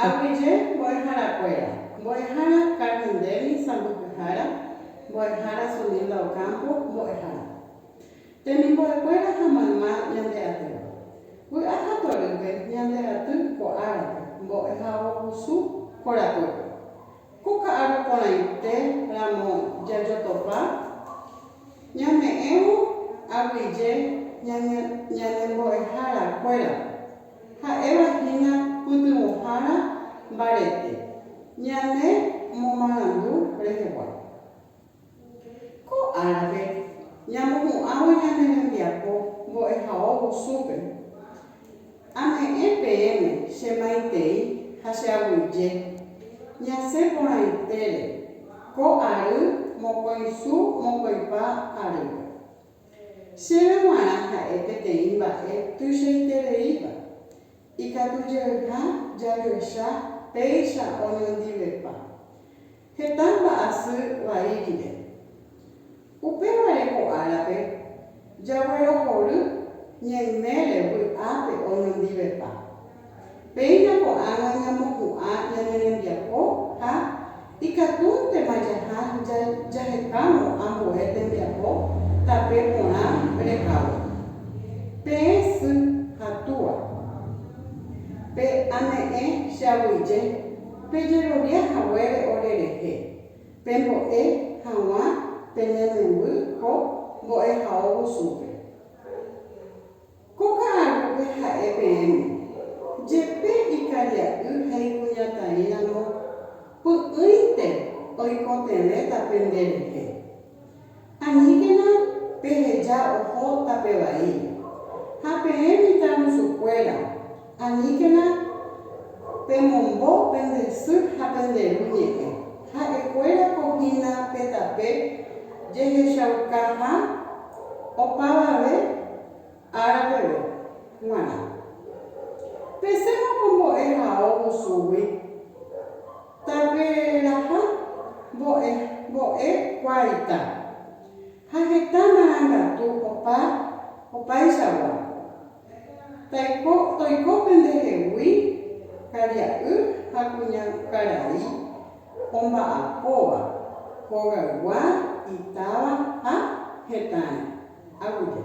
Aguyje mbo'eharakuéra, mbo'ehára karnindémi sãmbyhyhára, mbo'ehára sundílda okámpo mbo'ehára. Temimbo'ekuéra ha mayma ñande atýva. Vy'a ha torýpe ñande aty ko árape, mbo'e ha ogusu korapýpe. Ko ka'arõ porãite ramo jajotopa, ñame'ẽvo aguyje ñanembo'eharakuérape. Ha'éva hína pytyvõhára mbarete ñane momarandu rehegua. Ko árape ñamohu'ãvo ñane rembiapo mbo'ehao gusúpe. Ame'ẽ peẽme che maitei ha che aguyje, ñasẽ porãitére ko ary mokõi su mokõipa arýpe. Chéve g̃uarã ha'e peteĩ mba'e tuichaitereíva, ikatujeyha jajoecha péicha oñondivepa heta mba'asy vai rire. Upévare ko árape jaguerohory ñaimére vy'ápe oñondivepa Péina ko'ág̃a ñamopu'ã ñane rembiapo ha ikatúntema jaha jahetárõ ambue tembiapo tape porã rehávo. Peẽ sy ha túa, pe ame'ẽ che aguyje pejerovia haguére ore rehe, pembo'e haguã pene memby ko mbo'ehaovusupe. Ko ka'arúpe ha'e peẽme, jepe ikaria'y ha ikuñataĩramo py'ỹinte oikotevẽta pende rehe. Aníkena peheja oho tape vaíre, ha peẽ mitãrusukuéra, Aníkena pemombo pende sy ha pende ru ñe'ẽ. Ha'ekuéra ko hína pe tape jehechaukaha opavave ára peve g̃uarã. Peséma ko mbo'e hao musúgui, taperaha mbo'e, mbo'e kuaita, ha heta marangatu opa opaichagua, Taiko toiko pendehegui karia'y ha kuña karai omba'apóva hogaygua itáva ha hetãre. Aguja.